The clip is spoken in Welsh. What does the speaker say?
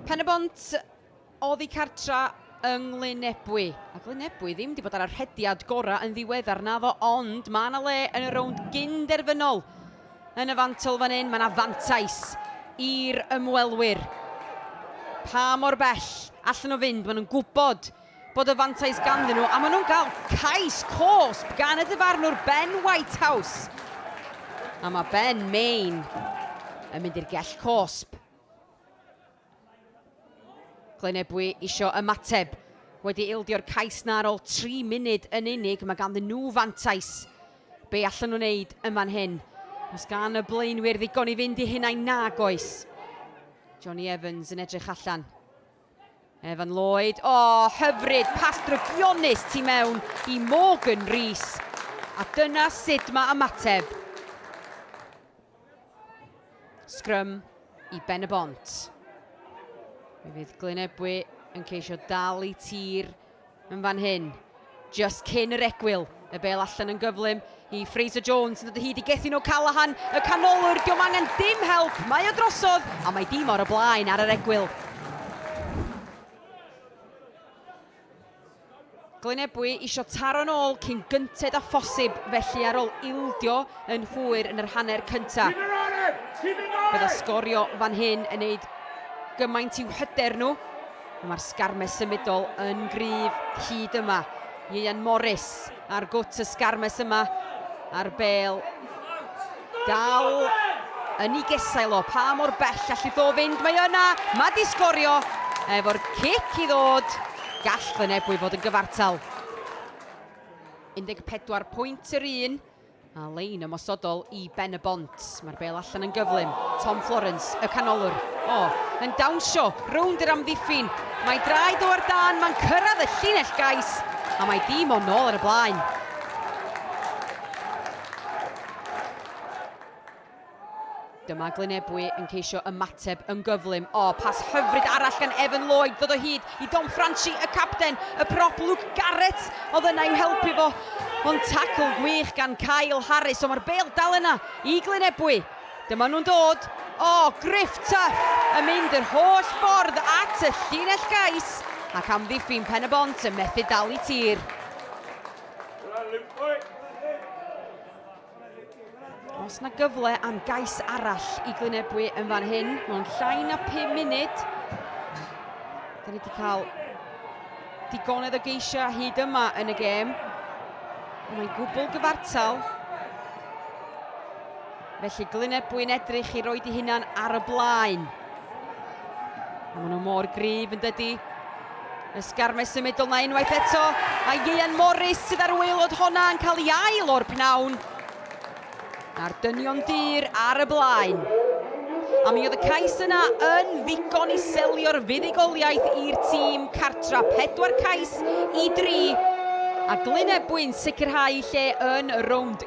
Pen-y-bont oddi cartra yng Nglynebwy, a Glynebwy ddim wedi bod ar y rhediad gorau yn ddiweddar, naddo, ond mae yna le yn y rownd gyn-derfynol yn y fantol fan hyn, mae yna fantais i'r ymwelwyr. Pa mor bell allan nhw fynd, maen nhw'n gwybod bod y fantais ganddyn nhw a maen nhw'n cael cais cosb gan y dyfarnwr Ben Whitehouse. A mae Ben Main yn mynd i'r gell cosb. Glynebwy isio ymateb wedi ildio'r cais na ar ôl 3 munud yn unig. Mae ganddyn nhw fantais. Be allan nhw'n neud yn fan hyn? Os gan y blaenwyr ddigon i fynd i hunain nag oes. Johnny Evans yn edrych allan. Evan Lloyd, o, oh, hyfryd, pas drygionus tu mewn i Morgan Rees. A dyna sut mae ymateb. Sgrym i Ben y Bont. Mi fydd Glyn Ebwy yn ceisio dal i tir yn fan hyn, just cyn yr egwyl. Y bel allan yn gyflym i Fraser Jones yn dod o hyd i Gethin O'Callaghan, y canolwr, diom angen dim help, mae o drosodd a mae dim o'r y blaen ar yr egwyl. Glynebwy isio taro'n ôl cyn gynted â phosib, felly ar ôl ildio yn hwyr yn yr hanner cynta. Bydda sgorio fan hyn yn neud gymaint i'w hyder nhw, A mae'r sgarmes symudol yn gryf hyd yma. Ieuan Morris ar gwt y sgarmes yma a'r bel dal yn ei gesail o. Pa mor bell allu ddo fynd? Mae yna, mae di sgorio efo'r cic i ddod. Gall fy nebwy fod yn gyfartal. 14 pwynt yr un. A lein ymosodol i Ben-y-bont. Mae'r bêl allan yn gyflym. Tom Florence, y canolwr. O, yn dawnsio rownd yr amddiffyn. Mae draed o ar dan, mae'n cyrraedd y llinell gais, a mae dim o nôl ar y blaen. Dyma Glyn Ebwy yn ceisio ymateb yn gyflym. O, pas hyfryd arall gan Evan Lloyd ddod o hyd i Dom Franchi, y capten. Y prop Luke Garrett oedd yna i'w helpu fo. Ond tacl gwych gan Kyle Harris, ond mae'r bel dal yna i Glyn Ebwy. Dyma nhw'n dod. O, Griff Tuff yn mynd yr holl ffordd at y llinell gais ac amddiffyn Pen y Bont yn methu dal i tir. Os na gyfle am gais arall i Glynebwy yn fan hyn, mae'n llai na 5 munud. Da ni wedi cael digonedd o geisiau hyd yma yn y gêm. Mae'n gwbl gyfartal. Felly Glynebwy'n edrych i roi di hunan ar y blaen. A maen nhw mor gryf yn dydy. Ysgarmes symudol na unwaith eto. A Ieuan Morris sydd ar waelod honna yn cael ei ail o'r pnawn. A'r dynion dyr ar y blaen. A mi oedd y cais yna yn ddigon i selio'r fuddugoliaeth i'r tîm cartra. Pedwar cais i dri. A Glyn Ebwyn sicrhau lle yn y rownd